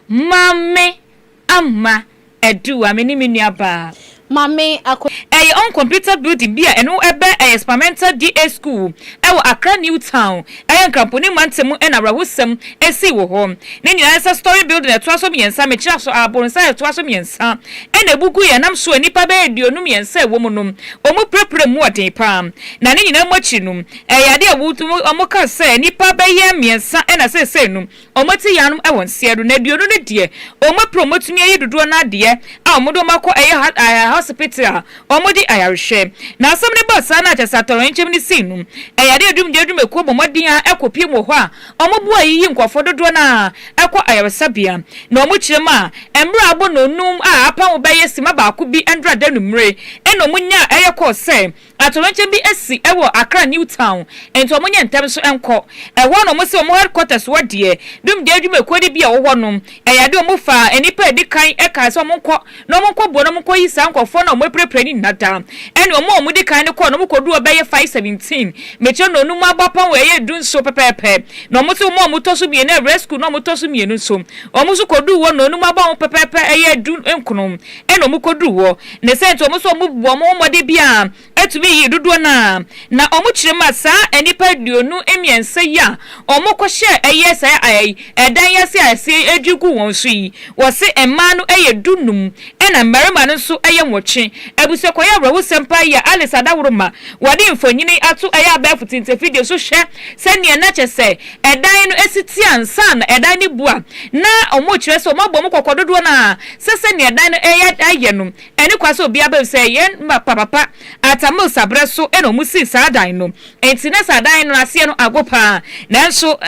Maame Amma Aduwa, me ne me nua baa. Maame Akua. Ɛyɛ on computer building bi a ɛno bɛ ɛyɛ Spamenta DA School ɛwɔ Accra New Town ɛyɛ Nkramponi Mante mu ɛna awerɛhosɛm ɛsii wɔ hɔ. Ne nua ɛsɛ story building ɛtoa so mmiɛnsa mekyerɛ so abronsa ɛtoa so mmiɛnsa ɛna ɛbuguiɛ ɛnam so a nnipa bɛyɛ aduonu mmiɛnsa ɛwɔ mu no wɔn pirapira mu ɔden paa na ne nyinaa mu akyiri no ɛyɛ adeɛ a wɔn ka sɛ nnipa bɛyɛ mmiɛnsa ɛna seesei no Wɔte yanom wɔ nseɛ do, na aduonu no deɛ wɔn apira wɔn atumi ayi dodoɔ no ara deɛ a wɔde wɔn akɔ ɛyɛ ahosipiti a wɔde ayarehwɛ. Na asɛm no baa saa na kyerɛ sɛ atɔyerɛnkyɛm no sii no. Ɛyare adwumdeɛ adwumakuo bɔ mmɔden ara ɛkɔ piem wɔ hɔ a wɔboa ayiyi nkorɔfoɔ dodoɔ no ara ɛkɔ ayaresabea na wɔkyerɛ mu a mmere abonoo num a apam bɛyɛ sima baako bi ndradanu mmere ɛna wɔnyaa ɛyɛ kɔɔ sɛ Atoyerɛnkyɛm bi asi wɔ Accra New Town nti wɔn nyɛ ntɛm nso nkɔ ɛhɔ na wɔn si wɔn headquarters hɔ deɛ Dumgya adwumakuo no bi a wɔwɔ no ɛyɛ adeɛ wɔn faa nnipa a ɛdi kan ɛkae sɛ wɔn nkɔ na wɔn nkɔ boa na wɔn nkɔ yi saa nkorɔfoɔ no a wɔn apirapira no nyina da ɛne wɔn a wɔn di kan no kɔɔ na wɔn kɔduru hɔ bɛyɛ five seventeen mekyerɛ nnɔnum mu abɔ apɔn wɔ ɛyɛ du nso pɛpɛɛpɛ na wɔn nso wɔn a wɔn tɔ so mmienu ɛwrɛ school na wɔn tɔ so mmienu nso wɔn nso kɔduu hɔ nnɔnum abɔ ho pɛpɛɛpɛ ɛyɛ du nkono ɛna ɔmo kɔduru hɔ, ne sɛ nti ɔmo so ɔmo bu ɔmo ho mmɔden biaa atumi yii dodoɔ no ara, na ɔmo kyerɛ mu a saa nnipa aduonu mmiɛnsa yi a ɔmo kɔhyɛɛ ɛyɛ saa ɛy ɛdan yi ase a ɛse ɛdwiri gu wɔn so yi, wɔse mmaa no ɛyɛ du num ɛna mmarima no nso ɛyɛ nwɔtwe. Abusuakuayɛ awerɛhosɛm paa yi a Alice Adaworoma wɔde mfonini ato ɛyɛ abɛɛfo tintinfidie so hwɛ sɛdeɛ na kyɛsɛ ɛdan no si te ansa na ɛdan no bu a, na wɔkyerɛ sɛ wɔabɔ wɔn kɔkɔ dodoɔ no ara sɛ sɛdeɛ ɛdan no reyɛ ayɛ no, ɛne kwa sɛ obiara bɛhu sɛ yɛn papa Atta Mills aberɛ so na wɔsii saa dan no. Enti na saa dan no aseɛ no ago pa ara. Nanso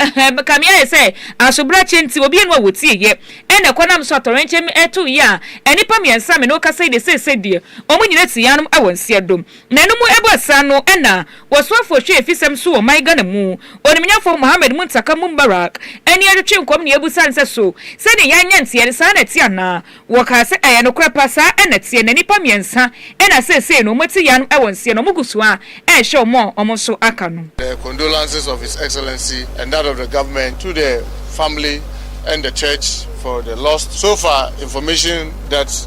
ka me ayɛ sɛ asobrakyeɛ nti obi anni hɔ a wɔtieeɛ na ɛkɔ nam so atɔwrɛnkyɛm to yea a nnipa mmiɛnsa a me ne wo kasa yi deɛ seesei deɛ wɔn nyinaa te yea nom wɔ nseɛdo. Nanom baasa no na wɔsoafo hwɛ afisɛm so wɔ ɔman Ghana mu. Onimnyafo Mohammed Muntaka Mumbarak ani atwetwe nkɔm ne abisa nsɛ so sɛ ne yan nyɛ nteɛ no saa na ɛte anaa. Wɔkaa sɛ ɛyɛ nokorɛ pa saa na ɛteɛ na nnipa mmiɛnsa na seesei no wɔte yan no wɔ nseɛ na wɔgu so ara rehyɛ wɔn a wɔn nso aka no. The condolances of His Excellency and that of the government to the family and the church for the lost. So far information that.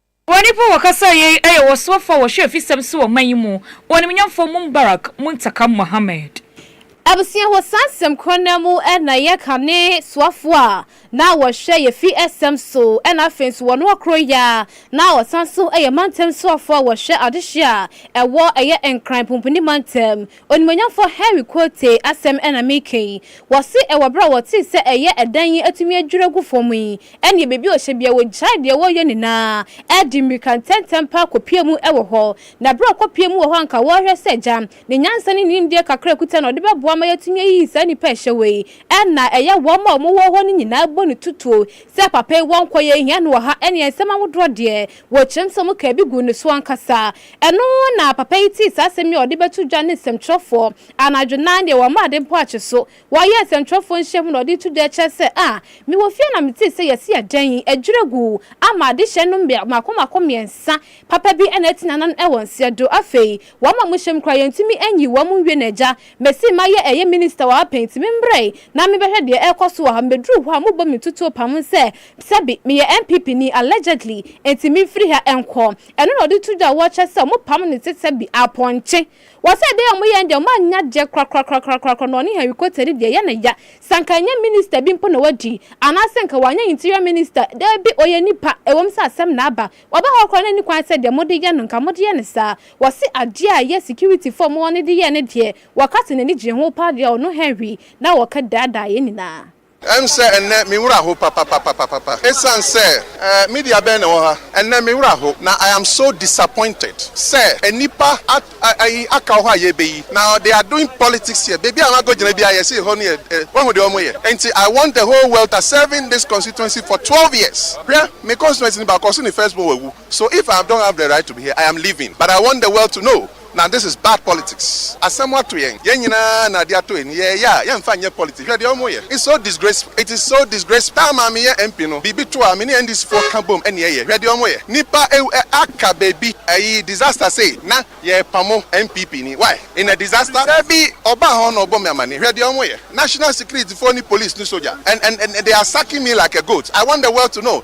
Wɔ nnipa a wɔkasaa yei yɛ wɔsoafoɔ a wɔhwɛ afisɛm so wɔ ɔman yi mu, Ɔnimnyamfoɔ Mumbarak Muntaka Mohammed. Abusua hɔ saa nsɛm korɔ no ara mu na yɛ ka ne soafoɔ a na wɔhwɛ yɛ fi sɛm so na afei nso wɔ noa korɔ yi ara na ɔsan so yɛ mantam soafoɔ a wɔhwɛ adehyeɛ a ɛwɔ ɛyɛ Nkran Pumpuni Mantam Onimuonyamfoɔ Henry Quartey asɛm na mereka yi. Wɔse ɛwɔ berɛ a wɔtee sɛ ɛyɛ ɛdan yi atumi adwiri agu fam yi, ɛnneɛ baabi a wɔhyɛ biara wɔgyae deɛ wɔreyɛ nyinaa de mmirika ntɛmntɛm paa kɔpue mu wɔ hɔ. Na berɛ a wɔkɔpuee mu wɔ hɔ a anka wɔrehwɛ sɛ agya ne nyansa ne ne nimdeɛ kakra a ɔkuta no ɔde bɛboa ma yɛatumi ayiyi saa nnipa a ɛhyɛ hɔ yi na ɛyɛ wɔn a wɔwɔ hɔ no nyinaa bɔ no tutuo sɛ papa yi wankɔ yɛnhia no wɔ ha ɛnneɛ nsɛm ahodoɔ deɛ wɔkyerɛm sɛ wɔkaa bi guu ne so ankasa Ɛno na papa yi tee saa asɛm yi a ɔde bɛto dwa ne nsɛmtwerɛfoɔ. Anadwo no ara deɛ wɔamma ade mpo ankye so. Wɔyɛɛ nsɛmtwerɛfoɔ nhyiamu na ɔde reto dwa kyerɛ sɛ, Ah, mewɔ fie na metee sɛ yɛasi adan yi, adwiri agu, ama adehyeɛ no mmea mmaako mmaako mmiɛnsa papa bi na ati n'anan wɔ nseɛ do. Afei wɔama mu hyem koraa, yɛntumi nyi wɔn nwie no agya. Mesi mayɛ ɛyɛ minista wɔ ha pɛn nti memmerɛe na mebɛhwɛ deɛ ɛrekɔ so wɔ ha. Mebɛduruu hɔ a mobɔ me ntutuo pam sɛ sɛbe meyɛ NPP ni, allegedly, enti memfiri ha nkɔ. Ɛno na ɔde to dwa a wɔkyerɛ sɛ wɔpam ne sesa bi apɔnkye. Wɔsɛ dɛn a wɔyɛ no deɛ wɔannya gyeɛ korakorakorakorakora na ɔne Henry Cotter di deɛ ɛyɛ no ya. Sɛ anka ɛnyɛ minister bi mpo na wadi, anaasɛ anka wanyɛ interior minister, daabi ɔyɛ nipa, ɛwom sɛ asɛm na aba. Ɔba hɔ koraa na ɛnni kwan sɛ deɛ mode yɛ no anka mode yɛ no saa. Wɔse adeɛ a ɛyɛ security foɔ a wɔwɔ no de yɛɛ no deɛ wɔka sɛ n'ani gyee ho paa deɛ a ɔno Henry na ɔka daadaa yɛn nyinaa. Ɛm sɛ ɛnnɛ me wura ho papapapapapa ɛsiane sɛ. Ɛɛ media bɛn na ɛwɔ ha? Ɛnnɛ me wura ho na I am so disappointed sɛ nnipa at ayi aka wɔ hɔ a yɛbɛyi na they are doing politics here baabi a wɔakɔgyina biara yɛse ɛhɔ no yɛ ɛ woahu deɛ wɔyɛ ɛnti I want the whole world ta serving this constituency for twelve years hwɛ me constituency no baakɔ so ne first born wawu so if I don't have the right to be here I am leaving but I want the world to know na this is bad politics asɛm ato yɛn yɛn nyinaa na ade atɔ ani yɛɛyɛ a yɛnfa nyɛ politics hwɛ deɛ ɔmo yɛ it's so disgraceful it is so disgraceful taa maa me yɛ MP no biribi to a me ne NDC foɔ ka bom ɛne ɛyɛ hwɛ deɛ ɔmo yɛ nipa ɛwu ɛ aka baabi ɛyi disaster sei na yɛɛpamo NPP ni why in a disaster dabi ɔbaa hɔ na ɔbɔ me amaneɛ hwɛ deɛ ɔmo yɛ national security foɔ ne police ne soldier and and and they are sucking me like a goat I want the world to know.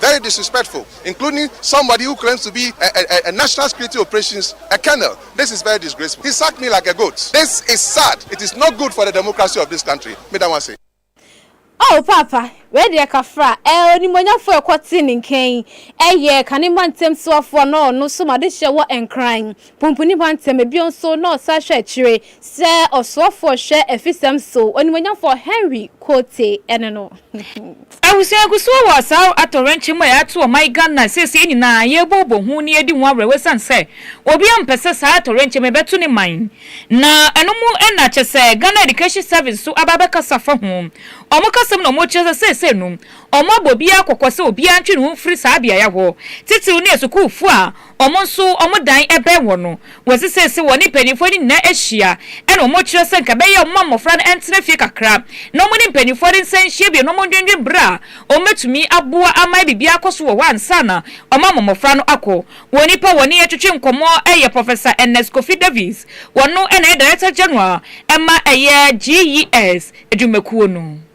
very disrespectful including somebody who claims to be a a a national security operations a colonel this is very disgraceful he sacked me like a goat this is sad it is not good for the democracy of this country meda mo ase. Oh paapa wei deɛ kafra eh onimuonyamfoɔ ɛkɔ tee ne nka yi ɛyɛɛ kane mma ntam soafoɔ anaa ɔno so ma de hyɛ wɔ nkran Pumpuni bɔ ntɛm bio nso na ɔsan hwɛ akyire sɛ ɔsoafoɔ hwɛ afisɛm so, onimuonyamfoɔ Henry Quartey ne no. Abusua gu so wɔ saa atɔwrɛnkyɛm mu a yɛato ɔman Ghana seesei nyinaa, yɛrebobɔ ho na yɛredi ho awerɛhoɔ ɛsiane sɛ obiara mpɛ sɛ saa atɔwrɛnkyɛm yi bɛto ne man. Na ɛno mu na kyerɛ sɛ Ghana Education Service nso aba abɛkasa afa ho. Wɔn kasa mu na wɔkyerɛ sɛ seesei no wɔabɔ obiara kɔkɔ sɛ obiara ntwe ne ho mfiri saa beaeɛ hɔ, titiriw ne asukuufoɔ a Wɔn nso wɔn dan bɛn hɔ no, wɔsesɛ sɛ wɔne mpaninfoɔ no nyinaa ahyia ɛna wɔn kyerɛ sɛ nka ɛbɛyɛ a wɔma mmɔfra no ntena fie kakra na wɔne mpaninfoɔ no nsan nhyia bio na wɔn ndwendwen berɛ a wɔn bɛtumi aboa ama biribiara akɔ so wɔ hɔ ansa na wɔn ama mmɔfra no akɔ. Wɔn nipa a wɔne yɛ twetwe nkɔmmɔ yɛ Professor Ernest Kofi Davies, wɔno na ɛyɛ Director General ma ɛyɛ GES adwumakuo no.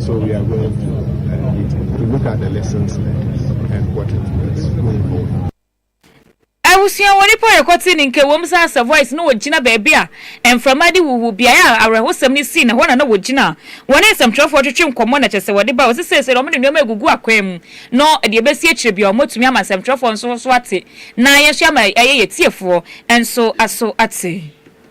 So we are going to uh, meeting to look at the lessons learned and what it means going forward. abusua wɔ nipa yɛ kɔte ne nkewom sɛ asa voice na wɔgyina baabi a mframa de wuwu beaeɛ a awerɛhosɛm no sii na hɔ na na wɔgyina wɔne nsɛmtwerɛfoɔ twetwe nkɔmmɔ na kyɛ sɛ wɔde ba wɔ sɛ seesei na wɔn de nneɛma agugu akwan mu no deɛ ɛbɛsi akyire bia wɔatumi ama nsɛmtwerɛfoɔ nso so ate na yɛn nso ama ɛyɛ yɛ tiefoɔ nso aso ate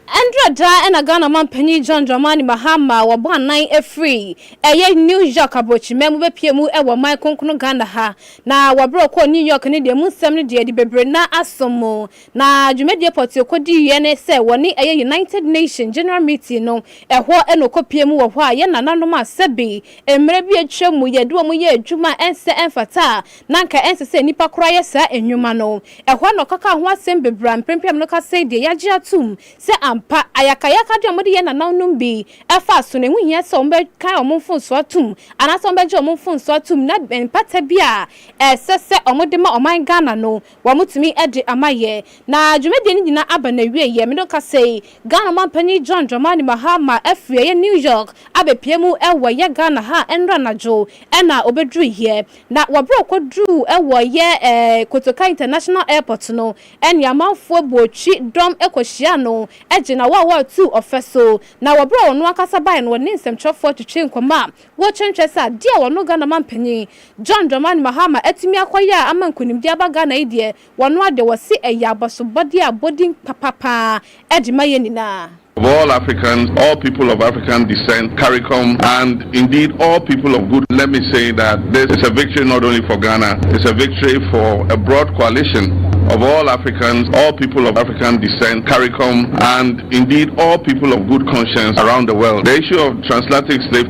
Ɛnderɛ daa ɛna Ghana manpanin John Dramani Mahama a wabɔ anan afiri ɛyɛ New York abrɔkyima mu bɛpue mu wɔ man kronkron Ghana ha. Na wɔaberɛ ɔkɔɔ New York no deɛ mu nsɛm no deɛ de bebree na asom mo. Na dwumadie pɔtee ɔkɔdiiɛ ne sɛ wɔne ɛyɛ United Nation General Meeting no ɛhɔ na ɔkɔpue mu wɔ hɔ a yɛn nananom a sɛbi mmerɛ bi atwam mu yɛde wɔn yɛɛ adwuma a ɛnsɛ ɛmfata a Na anka ɛnsɛ sɛ nnipa koraa yɛ saa nnwuma no. Ɛhɔ na ɔka kaa ho asɛm bebree a mprempren no ka sɛn deɛ yɛagye atom sɛ ampa ayakayakade a wɔde yɛɛ nananom bi ɛfa so no ɛho hia sɛ wɔbɛkae wɔn mfomsoɔ atom anaasɛ wɔbɛgye wɔn mfomsoɔ atom na mpata bi a ɛsɛ sɛ wɔde ma ɔman Ghana no wɔtumi de ama yɛ na dwumadie no nyinaa aba n'awieɛ. Me no ka sei, Ghana Ɔmanpanin John Dramani Mahama afiri ɛyɛ New York abɛpue mu wɔ ɛyɛ Ghana ha nnora anadwo na ɔbɛduruiɛ Na wɔberɛ a ɔkɔduruu wɔ yɛ eh Kotoka International Airport no ɛne amanfoɔ buo twi dɔm kɔhyiaa no gyina hɔ a wɔretuu ɔfɛ so. Na wɔberɛ a ɔno ankasa baeɛ no ɔne nsɛmtwerɛfoɔ twetwee nkɔmmɔ a wɔretwentwɛn sɛ adeɛ a ɔno Ghana manpanin John Dramani Mahama atumi akɔyɛ a ama nkunimdie aba Ghana yi deɛ Wɔn ara de, wɔse ɛyɛ abasobɔdeɛ a bɔdin papa paa ɛde ma yɛn nyinaa. Of all Africans, all people of African descent, caricom and indeed all people of good let me say that this is a victory not only for Ghana, it's a victory for a broad coalition of all Africans, all people of African descent, caricom and indeed all people of good conscience around the world. The issue of transatlantic slave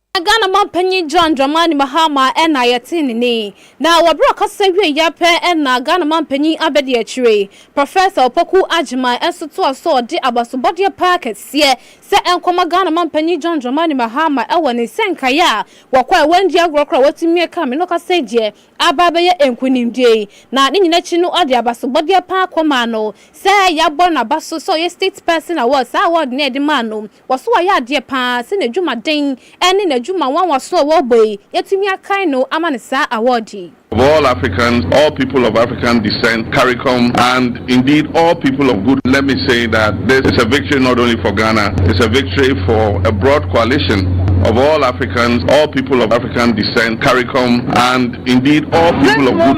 Na Ghana manpanyin John Dramani Mahama na yɛtee ne nne. Na wɔ bere a ɔkasa wiei ara pɛ na Ghana manpanyin abadiakyire, Professor Opoku Agyemang nso toaa so de abasobɔdeɛ paa kɛseɛ sɛ ɛnkɔma Ghana manpanyin John Dramani Mahama wɔ ne nsɛnkaeɛ a wɔkɔ a wɔandi agorɔ koraa a wɔatumi aka me no ɔkasa yi deɛ aba abɛyɛ nkunimdie yi na ne nyina akyi no ɔde abasobɔdeɛ paa kɔmaa no sɛ yɛabɔ n'aba so sɛ ɔyɛ state person award saa award no a yɛde maa no Wɔso wayɛ adeɛ paa sɛ n'adwumaden ne n'adwuma nwanwaso a wɔrebɔ yi yɛatumi akae no ama no saa awɔɔde yi. Of all Africans, all people of African descent, caricom and indeed all people of good let me say that this is a victory not only for Ghana, it's a victory for a broad coalition of all Africans, all people of African descent, caricom and indeed all people of good.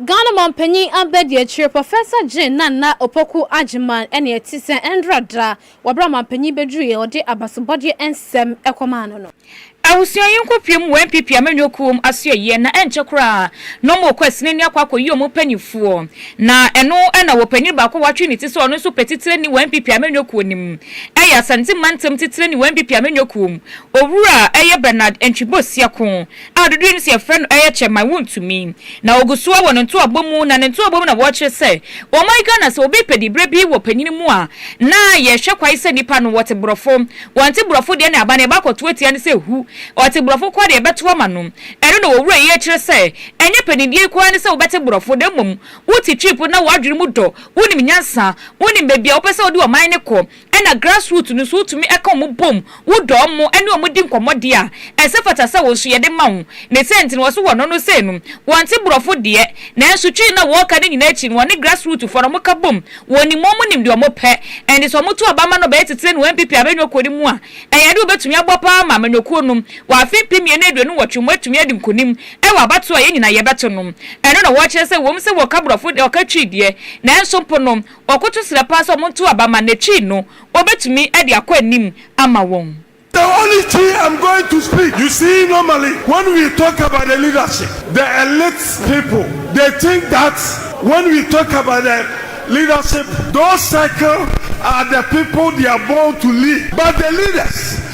Ghana Mampanyin Abadiakyiri Professor Jane Nana Opoku Agyemang ne ɛte sɛ ɛndra da wɔ bere a Mampanyin beduruiɛ ɔde abasobɔdeɛ nsɛm kɔmaa no no. Abusua yi nkɔ pie mu wɔ NPP amanyɔ kuo mu asoɛyie na ɛnkyɛ koraa na ɔmo rekɔ asinani akɔ akɔyi ɔmo mpaninfoɔ na ɛno na wɔ panyin baako a watwe ne ti sɛ ɔno nso pɛ titirani wɔ NPP amanyɔ kuo no mu ɛyɛ Asante mantam titirani wɔ NPP amanyɔ kuo mu owura ɛyɛ Bernard Antwi Bosia ko a dodoɔ no si yɛfrɛ no ɛyɛ kyɛ man wontumi na ɔgu soɔ wɔ ne ntoabɔ mu na ne ntoabɔ mu na wɔkyerɛ sɛ ɔman Ghana sɛ obi pɛ dibrɛ bi wɔ panyini mu a na yɛhwɛ kwan sɛ nipa no ɔte borɔfo wɔnte borɔfo deɛ na aba na yɛbakɔto atia no sɛ hu ɔte borɔfo koraa deɛ yɛbɛto ama no ɛno na ɔwura yi ɛkyerɛ sɛ ɛnyɛ panindie yi koraa ne sɛ wobɛte borɔfo na mmom wote trip na wadwene mu dɔ wonim nyansa wonim baabi a wopɛ sɛ wode ɔman no kɔ Ɛna grass root no nso wotumi ɛka wɔn bom, wo dɔ wɔn, ɛne wɔn di nkɔmmɔ deɛ a, ɛsɛ fata sɛ wɔn nso yɛde ma wɔn. Ne sɛ nti no wɔse wɔn no sei no, wɔnte borɔfo deɛ, nanso twi na wɔka no nyinaa akyi no wɔne grass root foɔ no wɔn ka bom, wɔn nim wɔn nim deɛ wɔn pɛ, ɛnti sɛ wɔn to aba ma no bɛyɛ titire no npp amanyɔkuo no mu a, ɛyɛ adeɛ wɔbɛtumi abɔ paa ama amanyɔkuo no, wɔ afe mpem mmienu aduonu nwɔtwe mu atumi adi nkonim ɛwɔ abatoɔ a yɛn nyinaa yɛbɛto no, ɛno na wɔkyerɛ sɛ wɔm sɛ wɔka borɔfo deɛ, wɔka twi deɛ, nanso mpo no. Wɔkoto srɛ paa sɛ wɔntow aba ma n'akyiri no wobetumi de akɔ anim ama wɔn. The only chi am going to speak you see normally when we talk about the leadership the elite people they think that when we talk about the leadership those circle are the people they are born to lead but the leaders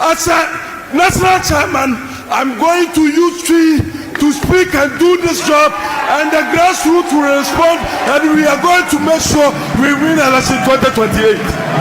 As a national chairman, I'm going to use Twi to speak and do this job and the grassroots will respond and we are going to make sure we win election 2028.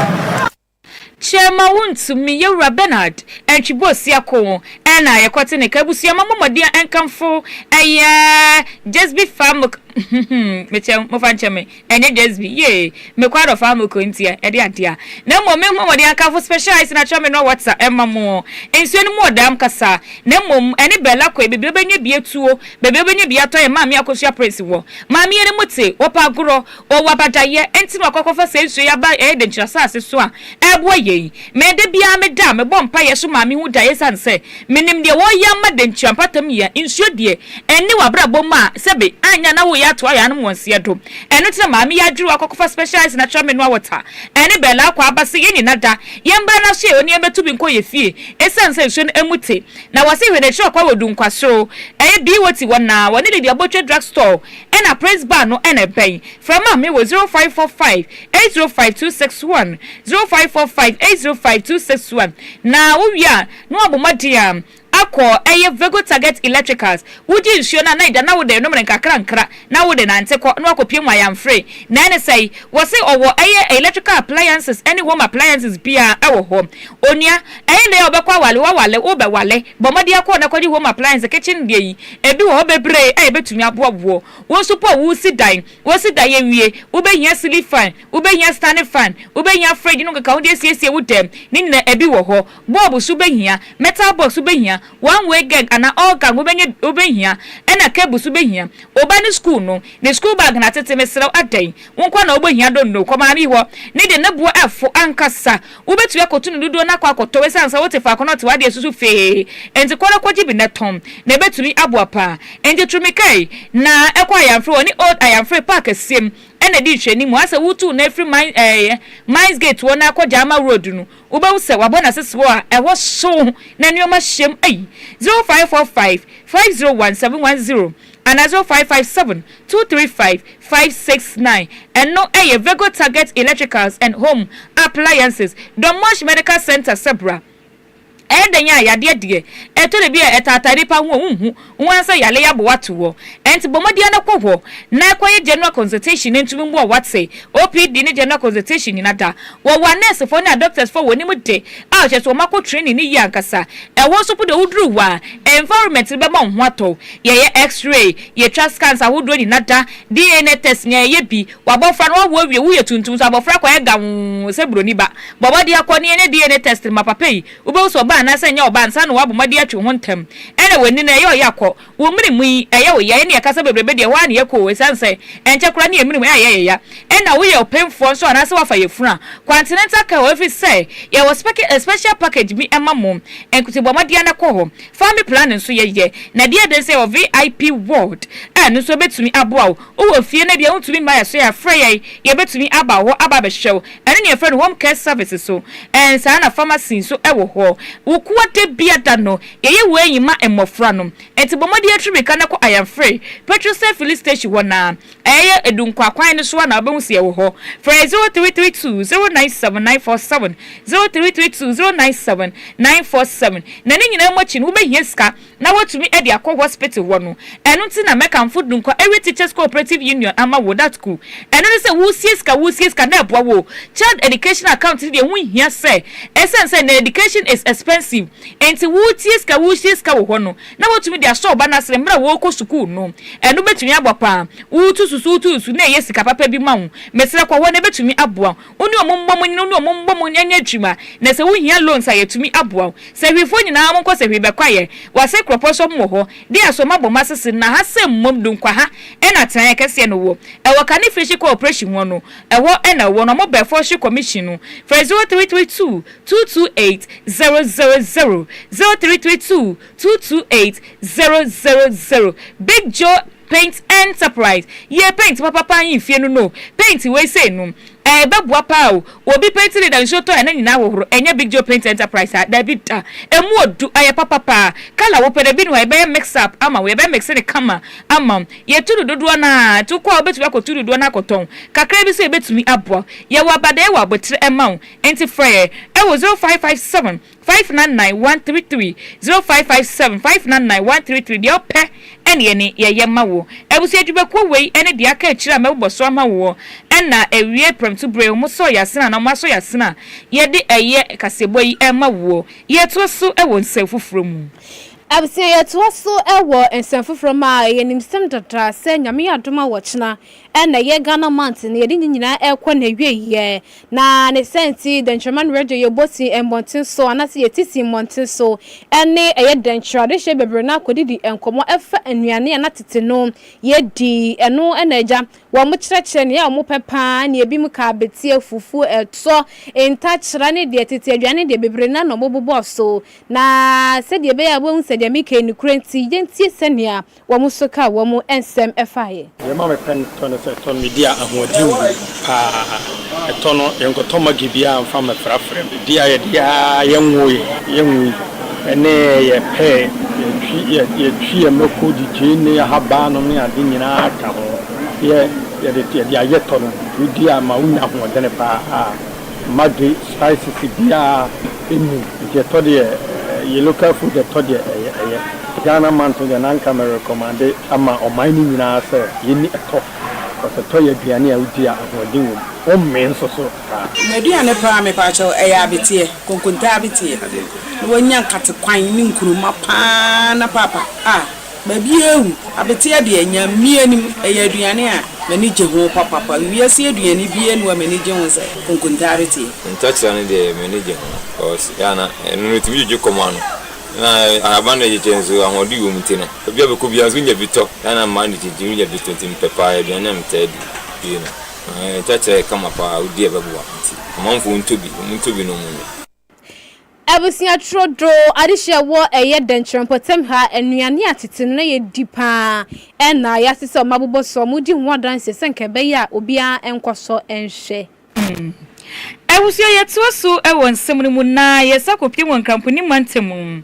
Kyɛ ma wontu me, Yewura Bernard Antwibuo Siakoo, ɛna yɛkɔte ne ka abusua ma mo mmɔden a nkamfo ɛyɛ Jesby Famk, hmm, mekyɛ, mofa nkyɛ me. Ɛnyɛ just bi, yee, me kɔ adɔfaa mo kɔ ntia, ɛde ade a. Na mmom me ho wɔde akamfo specialized na kyerɛ me no wɔ tsa ɛma mo. Nsuo no mu wɔ daam kasa. Na mmom, ɛne Bella kɔe, baabi a ɔbɛnya bi atuo, baabi a ɔbɛnya bi atɔ yɛn maame akosua Prince wɔ. Maame yɛ ne mu tse, ɔpɛ agorɔ, ɔwɔ abadayɛ, ɛnti na wakɔ akɔfa saa nsuo yi aba ɛyɛ dɛnkyira asase so a, ɛɛboa yɛn. Me da biara me da a mebɔ mpaeɛ so maa me hu daeɛ ɛsiane sɛ menim deɛ wɔreyɛ ama dankyira mpatam yea nsuo deɛ ɛnne wɔ abrabɔ mu a sɛbe anyɛ a na woyɛ ato ayɛ anom wɔnseɛ do ɛno nti na maa meyɛ adwiri wɔ akɔkɔfa specialized natural mineral water ɛne bɛɛlaa kɔ aba se yɛn nyina da yɛn mbra no aso yɛ ɔne yɛn bɛto bi nkɔ yɛ fie ɛsiane sɛ nsuo no ɛmu te na wɔse hwɛ n'akyiri ɔkwa wɔ dunkwasoro ɛyɛ BOT hɔ na wɔne Lady Abotwe drug store ɛna praise bar no ɛna ɛbɛn frɛ maa me wɔ 0545 eight zero five two six one zero five four five eight zero five two six one na wowie a na wabɔ mmɔden a akɔ ɛyɛ Vego Target Electricals wogye nsuo no a na ɛda na wode nom no nkakrankra na wode nante kɔ na wakɔ pie mu ayamfre na ɛne sɛi wɔse ɔwɔ ɛyɛ electrical appliances ɛne home appliances biaa ɛwɔ hɔ onua ɛyɛ nnɛ a wobɛkɔ awale wawale wobɛwale bɔ mmɔden akɔ na kɔgye home appliances kitchen deɛ yi ɛbi wɔ hɔ bebree a ɛbɛtumi aboa woɔ wo nso po a wosi dan Kosi da yɛawie. Wobɛhia ceiling fan, wobɛhia standing fan, wobɛhia fridge no nkekaho de asiesie wo dan mu. Ne nyinaa ɛbi wɔ hɔ. Bulb nso wobɛhia, metal box wobɛhia, one way gang anaa all gang wobɛnya bi, wobɛhia, ɛna cable nso wobɛhia. Oba no school no, ne school bag na atete, mesrɛ wo adɛn? Wo nkoa na wobɛhia, don't know, kɔ maame hɔ. Ne deɛ ne boɔ ɛfo ankasa, Wubetumi akotu no dodow no akɔ akɔtɔw esiane sɛ wote faako na ɔte w'ade asusu fee. Enti kɔ na kogye bi na tɔn, na ebetumi aboa paa. Enti turu mmirika yi, na kɔ Ayamfree, wɔne Old Ayamfree Park asiam na di nhwɛanim. Asɛ wutu na afiri Mines, ɛɛ, Mines Gate hɔ na akɔ Gyama Road no, wubehu sɛ wɔabɔ no ase serew a ɛhɔ hyew na nneɛma hyem. Ei! 0545 501 710 Anadwo five five seven two three five five six nine Ɛno yɛ Vego Target Electricals and Home Appliances, Dommorsch Medical Centre sɛ bra. Ɛyɛ dɛn a yadeɛ deɛ ɛtɔ da bi a ɛtaataa nipa ho a wonhu ho ansɛ yale abo ato hɔ. Ɛnti bɔ mmɔden ara kɔ hɔ na kɔyɛ General Consultation na ɛntumi mmu a wate. OPD ne General Consultation nyina da. Wɔwɔ anɛɛsefɔ ne adɔktɛsfɔ a wɔnim de a kyerɛ sɛ wɔn akɔ training no yie ankasa. Ɛhɔ nso mpo deɛ woduru hɔ a environment no bɛma wo ho atɔ wo. Yɛyɛ X-ray, yɛtwa scans ahodoɔ nyina da, DNA test nyina yɛyɛ bi, w'abɔfra no wawo awie, woyɛ tuntum so abɔfra kɔ ayɛ gawoo sɛ buroni ba. Bɔ mmɔdeɛ kɔ na yɛnyɛ DNA test ma papa yi, wobɛhu sɛ ɔbaa anaasɛ nyɛ ɔbaa ansa na w'abɔ mmɔdeɛ atwe wo ho ntɛm. Ɛna w'ani no ɛyɛ ɔya kɔ, wo mene mu yi ɛyɛ wo ya, yɛne yɛka sɛ bebrebe deɛ ɛhɔ ara na yɛkɔ o ɛsiane sɛ ɛnkyɛ koraa na yɛn mene mu ɛyɛ yɛ ya. Ɛna woyɛ ɔpemfoɔ nso anaasɛ woafa yafunu a, continental care hɔ ɛfiri sɛ yɛwɔ special package bi ma mo nkotiboamɔdeɛ no kɔ hɔ Family planning nso yɛ yɛ, na ɛdeɛ den sɛ yɛwɔ VIP ward a ɛno nso ɛbɛtumi aboa wo. Wowɔ fie na ebia wontumi mma yɛn so a, frɛ yɛn, yɛbɛtumi aba wo hɔ aba abɛhwɛ wo. Ɛno na yɛfrɛ no home care services so, ɛn saa ara na pharmacy nso wɔ hɔ. Wo kuo da bia da no, yɛyɛ wei nyi ma mmɔfra no. Ɛnti bɔ mmɔden atu mmirika na kɔ Ayamfree, petrol sɛ filling station hɔ no ara. Ɛyɛ edu nkwa kwan no so a na wobɛhu sɛ yɛwɔ hɔ. Frɛ 0332 097 947, 0332 097 947. Na ne nyinaa mu akyi no, wobɛhia sika na wɔatumi de akɔ hospital hɔ no. Ɛno nti na mɛkamfo du nkwa Area Teachers Co-operative Union ama wo, Datku. Ɛno ne sɛ woresie sika, woresie sika na ɛboa wo. Child Education Account no deɛ ɛho nhia sɛ ɛsiane sɛ nnɛ education is expensive nti woretie sika, woresie sika wɔ hɔ no, na woatumi de asɔ wo ba no asene bere a ɔrekɔ sukuu no. Ɛno betumi aboa paa. Wutu susu, wutu susu, na eye sika papa bi ma wo. Mesrɛ kɔ hɔ na ebetumi aboa wo. Wo ne wɔn mmɔ mu nyina, wo ne wɔn mmɔ mu nyɛ adwuma, na sɛ wuhia loans a yɛatumi aboa wo. Sahwifo nyinaa monkɔ sahwi bɛkwaeɛ. Wase Kuropɔn so wɔwɔ hɔ. De asɔ ma bɔ masese na ha sɛ mmom do nkwaha ɛna atenaeɛ kɛseɛ no wɔ. Ɛwɔ Kane Firi Hye Kɔ Opreshi Hɔ no, ɛhɔ ɛna ɛwɔ na wɔbɛn Forestry Commission no. Frɛ 0332. two two eight zero zero zero zero three three two two two eight zero zero zero big joe paint enterprise yɛ paint papapa yi fie no no paint wei sei no ɛbɛboa paa o obi paint leader nsuo tɔ ɛna nyinaa hohoro ɛnyɛ big joe paint enterprise a dabi da ɛmu odu ayɛ papa paa kala wopɛ no ebi ni hɔ a yɛbɛyɛ mix up ama wo yɛbɛ mix ne kama ama wo yɛtu no dodoɔ no a to kɔ a wobɛtumi akɔtu dodoɔ no akɔtɔn kakra bi so yɛbɛtumi aboa yɛwɔ abadɛɛ wɔ abotere ɛma wo Enti frɛ yɛn wɔ 0557 599 133, 0557 599 133, deɛ wopɛ ne yɛne yɛyɛ ma wo. Abusua dwumakuo wei ne deɛ aka akyire a mɛbobɔ so ama woɔ, ɛna awie prɛmto berɛ yi, wɔsɔɔ yɛn asene anaa wɔasɔ yɛn asene a, yɛde ɛyɛ kaseɛbɔ yi ma woɔ. Yɛtoa so wɔ nsɛm foforɔ mu. Abusua yɛtoa so wɔ nsɛm foforɔ mu a, ɛyɛ nimsɛm dada sɛ Nyame adom a wɔkyena, ɛna ɛyɛ Ghana month no, yɛde ne nyinaa ɛkɔ n'awieɛ, Na ne saa nti, dɛnkyɛmma ne radio yɛ bɔ sin mmɔnten so anaasɛ yɛte sin mmɔnten so ne ɛyɛ dɛnkyɛrɛ adehyɛ bebree no akɔdidi nkɔmmɔ ɛfa nnuane a na tete no yɛdi. Ɛno na agya wɔn kyerɛkyerɛ nea wɔpɛ pa ara ne ebinom ka abeteɛ, fufuo, ɛtɔ, ntakyera ne deɛ tete aduane deɛ bebree no ara na wɔbobɔ so. Na sɛdeɛ ɛbɛyɛ a wobɛhu sɛ deɛ mereka yi nokorɛ nti, yɛntie sɛnea Wɔn nso kaa wɔn nsɛm faa yɛn. Deɛ ɛma mepɛ no tɔ ne sɛ ɛtɔ no medi a ahoɔden wɔ mu paa. Ɛtɔ no yɛnkɔtɔ Maggi biara mfa mmɛfrafra mu. Ɛdi a yɛde a yɛnwo yɛn, yɛnwo yi ne yɛ pɛɛ, yɛtwi yɛtwi yɛn mako, de gyeene ne ahaban no ne ade nyinaa ka ho. Yɛ yɛde yɛde ayɛ tɔ no, wodi a ɛma wonya ahoɔden paa. Mma de spices biaa nni nti ɛtɔ deɛ yɛ local food ɛtɔ deɛ ɛyɛ ɛyɛ. Ghana mantɔn deɛ na nka me recommande ama ɔman no nyinaa sɛ yɛnni ɛtɔ cos ɛtɔ yɛ aduane a wodi a ahoɔden wɔ mu. Wommee nso so saa. M'aduane paa mepakyɛw ɛyɛ abeteɛ, konkonte abeteɛ na wanya nkate kwan ne nkruma paa na paapa ah. Baabiara awu, abeteɛ deɛ nya mmie nim, ɛyɛ aduane a m'ani gye ho papapa, wiase aduane biara nni hɔ a m'ani gye ho sɛ konkontaare teɛ. Ntakyera no deɛ m'ani gye ho because ɛyɛ a na ɛno no ɛtumi dwodwo kɔm ano na ahaban no ɛkyekyɛ nso ahoɔden wɔ mu nti no baabi a bɛkɔ biara nso wonya bi tɔ, ɛyɛ a na mmaa no kyinkyin wonya bi tɔ nti mepɛ paa ɛyɛ aduane a metaa di pii no. Ntakyera yɛ kama paa wodi a ɛbɛboa nti amanfoɔ ntɔ bi, wɔntɔ bi na wɔnnom. Abusua trodoo adehye a ɛwɔ ɛyɛ dɛnkyerɛ mpɔtam ha, nnuane a tete no na yɛdi pa ara, ɛna ayɛ ase sɛ wɔabobɔ so, wɔredi ho adanse sɛ anka ɛbɛyɛ a obiara nkɔ so nhwɛ. Hmm. Abusua yɛtoa so wɔ nsɛm no mu na yɛsan kɔpue wɔ Nkramponi mantam mu,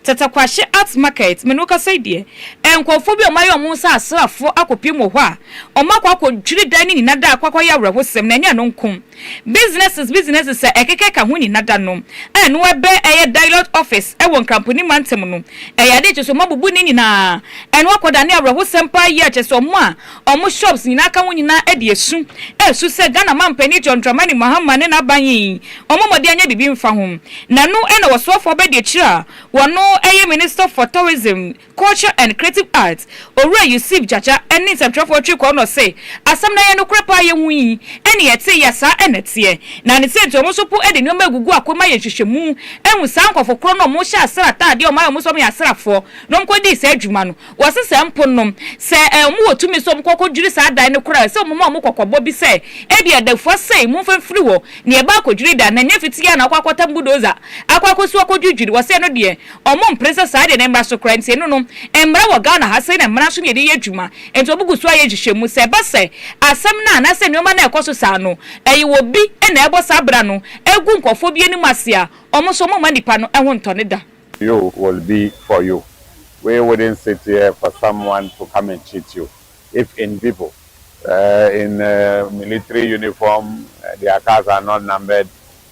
Tatakwahye Arts Market, me ne wo kasa yi deɛ, nkurɔfoɔ bi a wɔayɛ wɔn ho sɛ asraafoɔ akɔpue mu wɔ hɔ a, wɔakɔ akɔdwiri dan no nyina da akɔ akɔyɛ awerɛhosɛm na ɛnyɛ ɛno nko, Businesses Businesses a ɛkeka ka ho nyina da no a no ɛbɛ ɛyɛ Dialot Office ɛwɔ Nkramponi Mantam no ɛyɛ adeɛ kyɛ sɛ ɔmo abubu ne nyinaa ɛno akɔ da ne awerɛhosɛm paa yie a kyɛ sɛ ɔmo a ɔmo shops nyinaa ka ho nyinaa ɛde asu ɛsu sɛ Ghana Manpanin John Dramani Mahama ne n'aban yi ɔmo mmɔden anyɛ biribi mfa ho na ɛno ɛna Ɔsoafoɔ Abɛdi Akyire a ɔno ɛyɛ Minister for Tourism Culture and Creative Arts, Owura Yusuf Gyagya ne nsɛmtwerɛfoɔ Twi Kɔɔnɔ se, Asɛm no a ɛyɛ nokorɛ paa a yɛhu yi ne yɛtee yɛ saa na ɛteɛ. Na ne sɛ nti wɔn nso po de nneɛma agugu ako ma yɛ nhwehwɛmu ahu saa nkorɔfo korɔ no a wɔhyɛ asra ataadeɛ a wɔn ayɛ wɔn sɛ wɔyɛ asrafoɔ na wɔkɔ dii saa adwuma no. Wɔse saa mpo no sɛ wɔn wɔ tumi sɛ wɔn kɔ kɔ dwiri saa dan no koraa ɛsɛ wɔn ma wɔn kɔkɔbɔ bi sɛ ebia da fua sei momfa mfiri hɔ na yɛba akɔdwiri dan no ɛnyɛ fitia na wɔkɔ akɔtam budoza akɔ akɔsi akɔdwidwiri wɔse ɛno deɛ Ɔmo mpene sɛ saa deɛ no mmra so koraa, nti eno no mmra wɔ Ghana ha, sei na mmara nso na yɛde yɛ adwuma, nti ɔmo gu so ayɛ nhyehyɛmu, sɛ ɛba sɛ asɛm no anaasɛ nnoɔma no a ɛkɔ so saa no ɛyɛ obi na ɛbɔ saa bra no gu nkorɔfoɔ bi anim ase a, ɔmo nso ɔmo mma nnipa no ho ntɔ ne da. You will be for you we wouldn't sit here for someone to come and cheat you if in people in military uniform their cars are not numbered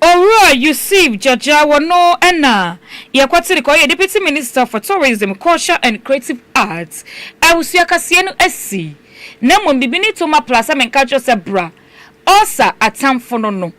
Owura Yusuf Jajjawa no na yɛkɔtee kɔ ɔyɛ Deputy Minister for Tourism, Culture and Creative Arts, Abusua Kaseɛ no asi, na mmom bibi ne Toma Pla sɛ menka nkyerɛ wo sɛ bra, ɔsa atamfo no no,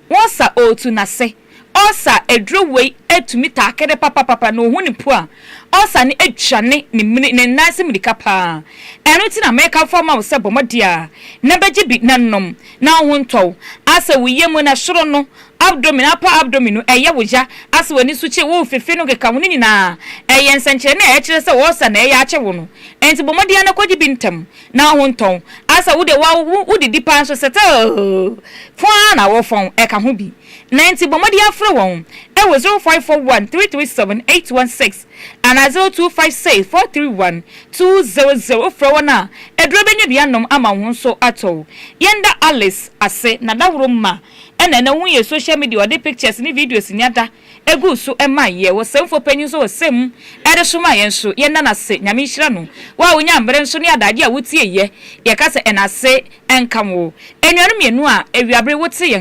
wɔsa ɔretu n'ase, ɔsa aduro wei atumi taa kɛdɛ papapapa na ɔhu ne pua, ɔsa no adwane ne mini ne nan ase mirika paa, ɛno nti na mekamfo ama wo sɛ bɔ mmɔden ara na bɛgye bi na nom. na wo ho ntɔ wo, asɛ wo yamu na soro no, abdomen, upper abdomen, no ɛyɛ wo ya, asɛ w'ani so kye, wo fefe no keka ho, ne nyinaa ɛyɛ nsɛnkyerɛnne a ɛkyerɛ sɛ ɔɔsa na ɛyɛ akye wo no. Ɛnti bɔ mmɔden ara kɔgye bi ntɛm na wo ho ntɔ wo, asɛ wo deɛ woawo wo didi paa nso settle fɔn ara na wo fɔn ɛka ho bi. Na ɛnti bɔ mmɔden ara frɛ wɔn ɛwɔ zero five four one three three seven eight one six. anaa zero two five six four three one two zero zero wofrɛ wɔn a aduro bɛnya bi anom ama wo ho nso atɔ wo. Yɛnda Alice ase na dahoro mma ɛna ɛnɛ wohu yɛ social media ɔde pictures ne videos nya da ɛguu so ɛma yɛ wɔ sɛmfoɔ panyin nso wɔ sɛm mu ɛde soma yɛn nso yɛnda no ase Nyame nhyira no wo a wonya mmerɛ nso ne adagye a wotie yɛ yɛka sɛ ɛna ase nka wo Anuanom mmienu a awiabere wote yɛn